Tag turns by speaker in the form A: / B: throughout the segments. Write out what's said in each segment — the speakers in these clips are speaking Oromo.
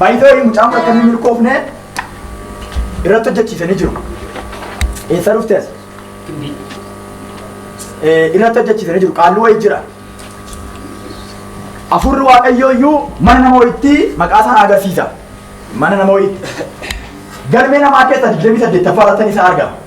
A: Baay'ee mucaan akka inni milkoofne irratti hojjechiisanii jiru. Eessa dhufte as? Eh, Irratti hojjechiisanii jiru. Qaalluu wayii jira. Afurri waaqayyoo iyyuu mana nama wayiitti maqaa isaa agarsiisa. Mana nama wayiitti. Galmee namaa keessa 28 irratti isaa argama.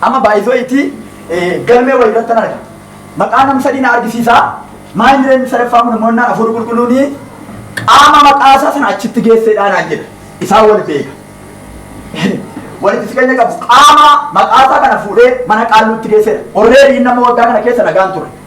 A: Amma baay'isoo itti galmee wayii irratti arga. Maqaa nam sadii na argisiisa. Maa hin jireenyi sadaffaa kun immoo innaan hafuurri qulqulluun qaama maqaa isaa sana achitti geesseedhaa naan jedha. Isaan wal beeka. Walitti siqeenya qabu. Qaama maqaa isaa kana fuudhee mana qaalluutti geesseedha. Orreedii inni amma waggaa kana keessa nagaan ture.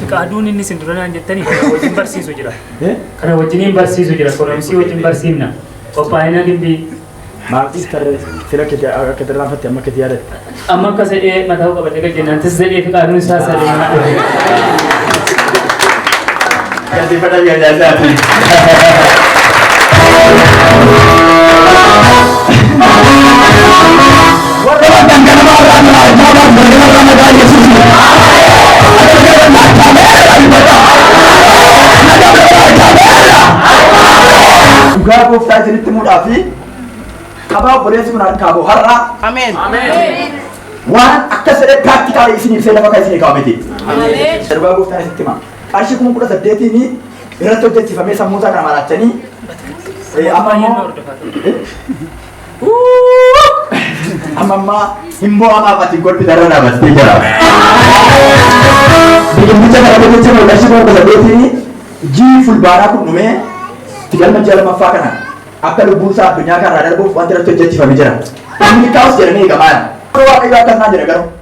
B: Fiqaaduun inni isin dura naan jettanii kana wajjin barsiisu jira. Kana wajjiniin barsiisu jira. Koromsii wajjin barsiifna. Qophaa'ina gimbii. Maatiis
A: tarree fira kiti akka tarraan fatte amma kiti yaadatte. Amma akka sedhee
B: mataa qabatee gad jennaan tis sedhee fiqaaduun isaa sadee.
C: Galateeffadhaa mi'a adda addaati.
A: Dhugaa gooftaa isinitti mudhaa fi qabaa obboleessi kun harkaa boo har'aa Ameen. waan akka sedhe piraaktikaalii isin ibsee lafa kan isin kaa'ameti. Dhugaa gooftaa isinitti himaa. qarshii kuma kudha saddeetiin irratti hojjechiifamee sammuu isaa kana maraachanii eh, amma immoo amma ammaa hin mo'amaaf ati golbi darra dhaabattee jira. Biqilticha kana hojjechiifame qarshii kuma kudha saddeetiin jii fulbaanaa kun dhumee itti galma ji'a lammaffaa kana akka lubbuun isaa addunyaa kanarraa darbuuf wanti irratti hojjechiifame jira. Inni kaa'us jedhamee eegamaa jira. Waaqayyo akkas naan jedha garuu.